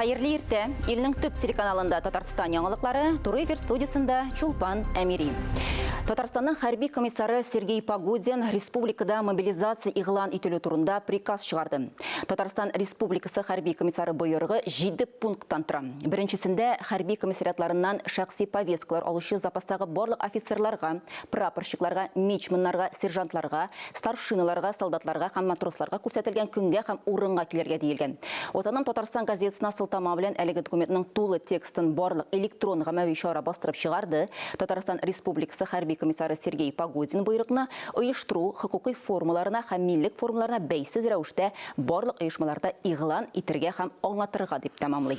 Хәерле иртә! Илнең төп телеканалында Татарстан яңалыклары, Туры эфир студиясендә Чулпан Әмири. Татарстанның хәрби комиссары Сергей Погудин республикада мобилизация игълан ителү турында приказ чыгарды. Татарстан республикасы хәрби комиссары боерыгы 7 пункттан тора. Беренчесендә хәрби комиссариатларыннан шәхси повесткалар алучы запастагы барлык офицерларга, прапорщикларга, мичманнарга, сержантларга старшиналарга, солдатларга һәм матросларга күрсәтелгән көнгә һәм урынга килергә диелгән. Ватаным Татарстан газетасына сылтама белән әлеге документның тулы текстын барлык электрон гамәви чара бастырып чыгарды. Татарстан Республикасы хәрби комиссары Сергей Погодин боерыкны оештыру, хокукый формаларына һәм милек формаларына бәйсез рәвештә барлык оешмаларда игълан итергә һәм аңлатырга дип тәмамлый.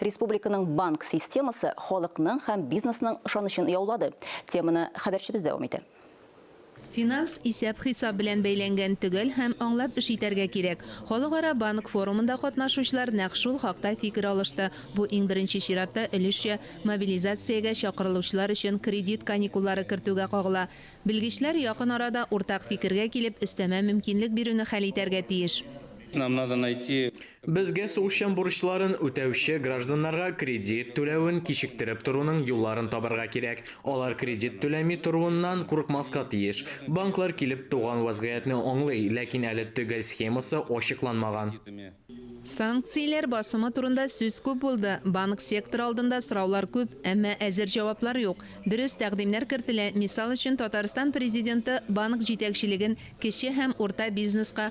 Республиканың банк системасы халыкның һәм бизнесның ышанычын яулады. Теманы хәбәрчебез дәвам итә. Финанс исәп-хисап белән бәйләнгән, төгәл һәм аңлап эш итәргә кирәк. Халыкара банк форумында катнашучылар нәкъ шул хакта фикер алышты. Бу, иң беренче чиратта, өлешчә мобилизациягә чакырылучылар өчен кредит каникуллары кертүгә кагыла. Белгечләр якын арада уртак фикергә килеп, өстәмә мөмкинлек бирүне хәл итәргә тиеш. Безгә сугышчан бурычларын үтәүче гражданнарга кредит түләвен кичектереп торуның юлларын табарга кирәк. Алар кредит түләми торуыннан курыкмаска тиеш. Банклар килеп туган вәзгыятьне аңлый, ләкин әле төгәл схемасы ачыкланмаган. Санкцияләр басымы турында сүз күп булды. Банк секторы алдында сораулар күп, әмма әзер җаваплар юк. Дөрес, тәкъдимнәр кертелә, мисал өчен, Татарстан Президенты банк җитәкчелеген кече һәм урта бизнеска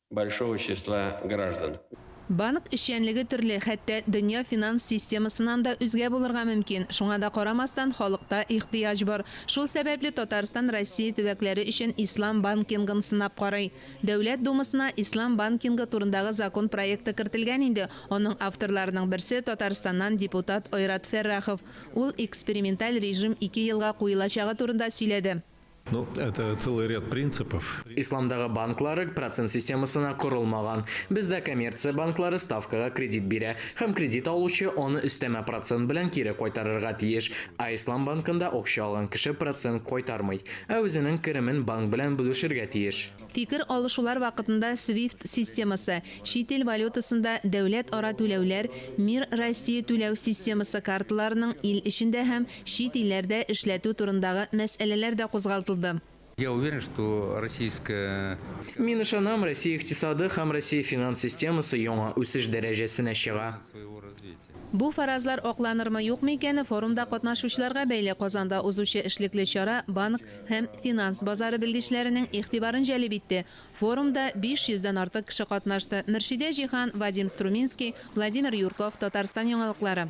большого числа граждан. Банк эшчәнлеге төрле, хәтта дөнья финанс системасыннан да үзгә булырга мөмкин. Шуңа да карамастан, халыкта ихтыяҗ бар. Шул сәбәпле Татарстан Россия төбәкләре өчен ислам банкингын сынап карый. Дәүләт Думасына ислам банкингы турындагы закон проекты кертелгән инде, аның авторларының берсе, Татарстаннан депутат Айрат Фәррахов. Ул эксперименталь режим ике елга куелачагы турында сөйләде. Ну, это целый ряд принципов. Исламдагы банклары процент системасына корылмаган. Бездә коммерция банклары ставкага кредит бирә һәм кредит алучы аны өстәмә процент белән кире кайтарырга тиеш. Ә Ислам банкында акча алган кеше процент кайтармый, ә үзенең керемен банк белән бүлешергә тиеш. Фикер алышулар вакытында Свифт системасы, чит ил валютасында дәүләт-ара түләүләр, Мир России түләү системасы карталарының ил эчендә һәм Чит илләрдә эшләтү турындагы мәсьәләләр дә кузгалтылды. Я уверен, что российская. Мин ышанам, Россия икътисады һәм Россия финанс системасы яңа үсеш дәрәҗәсенә чыга. Бу фаразлар акланырмы, юкмы икәне форумда катнашучыларга бәйле Казанда узучы эшлекле чара банк һәм финанс базары белгечләренең игътибарын җәлеп итте. Форумда 500 дән артык кеше катнашты, Мөршидә Җиһан, Вадим Струминский, Владимир Юрков, Татарстан яңалыклары.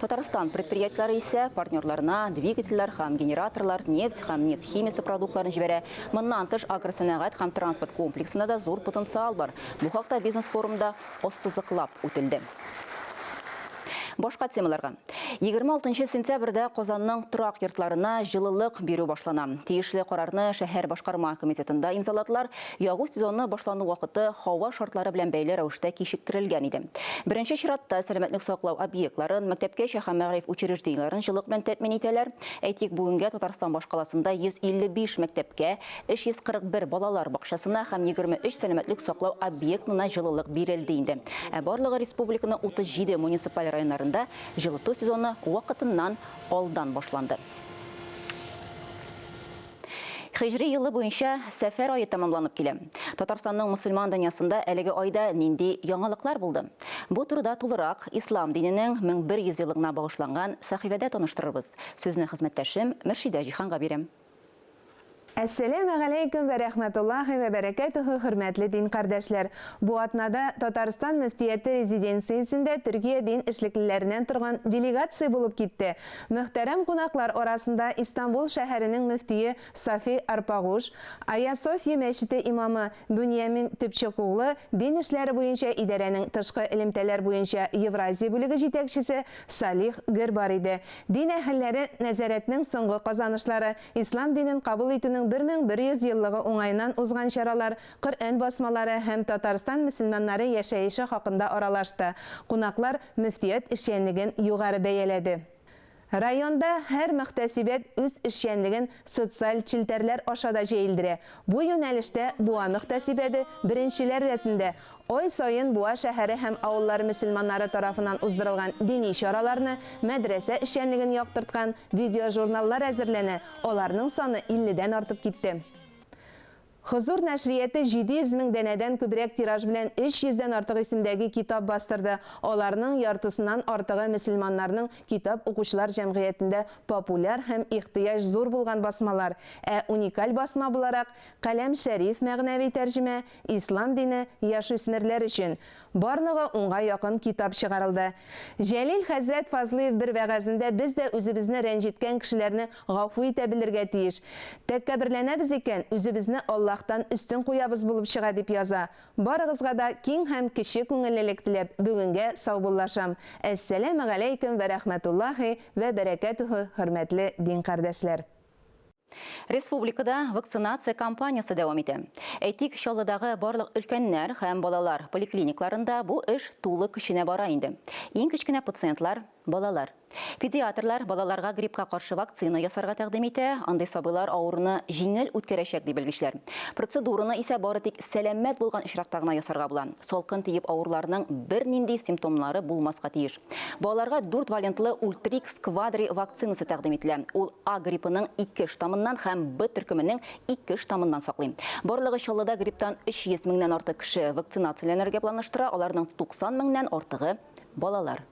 Татарстан предприятиеләре исә партнерларына двигательләр һәм генераторлар, нефть һәм нефть химиясе продуктларын җибәрә. Моннан тыш, агросәнәгать һәм транспорт комплексында да зур потенциал бар. Бу хакта бизнес-форумда ассызыклап үтелде. Башка темаларга. 26 нчы сентябрьдә Казанның торак йортларына җылылык бирү башлана. Тиешле карарны шәһәр башкарма комитетында имзаладылар. Ягу сезоны башлану вакыты һава шартлары белән бәйле рәвештә кичектерелгән иде. Беренче чиратта, сәламәтлек саклау объектларын, мәктәпкәчә һәм мәгариф учреждениеләрен җылылык белән тәэмин итәләр. Әйтик, бүгенгә Татарстан башкаласында 155 мәктәпкә, 341 балалар бакчасына һәм 23 сәламәтлек саклау объектына җылылык бирелде инде. Ә барлыгы республиканың 37 муниципаль районнарында җылыту сезоны вакытыннан алдан башланды. Хиҗри елы буенча Сәфәр ае тәмамланып килә. Татарстанның мөселман дөньясында әлеге айда нинди яңалыклар булды? Бу турыда тулырак Ислам диненең 1100 еллыгына багышланган сәхифәдә таныштырырбыз. Сүзне хезмәттәшем Мөршидә Җиһанга бирәм. Әссәләмү галәйкүм вә рәхмәтуллаһи вә бәрәкәтүһү хөрмәтле дин кардәшләр! Бу атнада Татарстан мөфтияте резиденциясендә Төркия дин эшлеклеләреннән торган делегация булып китте Мөхтәрәм кунаклар арасында Истанбул шәһәренең мөфтие Сафи Арпагуш, Аясофья мәчете имамы Бөньямин Төпчекуглы, дин эшләре буенча идарәнең тышкы элемтәләр буенча Евразия бүлеге җитәкчесе Салих Гер бар иде. Дин әһелләре Нәзарәтнең соңгы казанышлары, ислам динен кабул итүнең 1100 еллыгы уңаеннан узган чаралар, Коръән басмалары һәм Татарстан мөселманнары яшәеше хакында аралашты. Кунаклар Мөфтият эшчәнлеген югары бәяләде. Районда һәр мөхтәсибәт үз эшчәнлеген социаль челтәрләр аша да җәелдерә. Бу юнәлештә Буа мөхтәсибәде беренчеләр рәтендә ай саен Буа шәһәре һәм авыллары мөселманнары тарафыннан уздырылган дини чараларны, мәдрәсә эшчәнлеген яктырткан видеожурналлар әзерләнә, аларның саны илледән артып китте. Хозур нәшрияте 700 мең данәдән күбрәк тираж белән 300 дән артык исемдәге китап бастырды, аларның яртысыннан артыгы мөселманнарның китап укучылар җәмгыятендә популяр һәм ихтыяҗ зур булган басмалар, ә уникаль басма буларак, Каләм Шәриф мәгънәви тәрҗемә, Ислам дине, яшүсмерләр өчен, Барлыгы унга якын китап чыгарылды. Җәлил хәзрәт Фазлыев бер вәгазендә без дә үзебезне рәнҗеткән кешеләрне гафу итә белергә тиеш. Тәккәберләнәбез икән, үзебезне Аллаһтан өстен куябыз булып чыга, дип яза. Барыгызга да киң һәм кече күңеллелек теләп, бүгенгә саубуллашам. Әссәләмегаләйкем вә рәхмәтуллаһи вә бәрәкәтүһү, хөрмәтле дин кардәшләр! Республикада вакцинация кампаниясе дәвам итә. Әйтик, Чаллыдагы барлык өлкәннәр һәм балалар поликлиникларында бу эш тулы көченә бара инде. Иң кечкенә пациентлар, балалар. Педиатрлар балаларга гриппка каршы вакцина ясарга тәкъдим итә, андый сабыйлар авыруны җиңел үткәрәчәк, ди белгечләр. Процедураны исә бары тик сәламәт булган очракта гына ясарга була. Салкын тиеп авыруларның бернинди симптомнары булмаска тиеш. Балаларга дүрт валентлы Ультрикс Квадри вакцинасы тәкъдим ителә. Ул А гриппының ике штаммыннан һәм Б төркеменең ике штаммыннан саклый. Барлыгы Чаллыда грипптан 300 меңнән артык кеше вакцинацияләнергә планлаштыра, аларның 90 меңнән артыгы, балалар.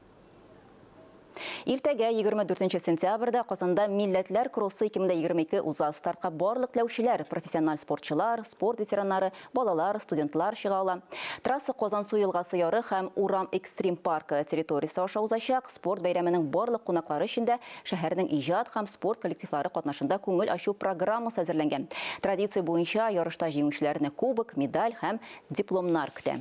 Иртәгә, 24 сентябрьдә, Казанда Милләтләр кроссы 2022 уза. Стартка барлык теләүчеләр, профессиональ спортчылар, спорт ветераннары, Балалар, студентлар чыга ала. Трасса Казансу елгасы яры һәм Урам экстрим паркы территориясе аша узачак. Спорт бәйрәменең барлык кунаклары өчен дә шәһәрнең иҗат һәм спорт коллективлары катнашында күңел ачу программасы әзерләнгән. Традиция буенча ярышта җиңүчеләрне кубок, медаль һәм дипломнар көтә.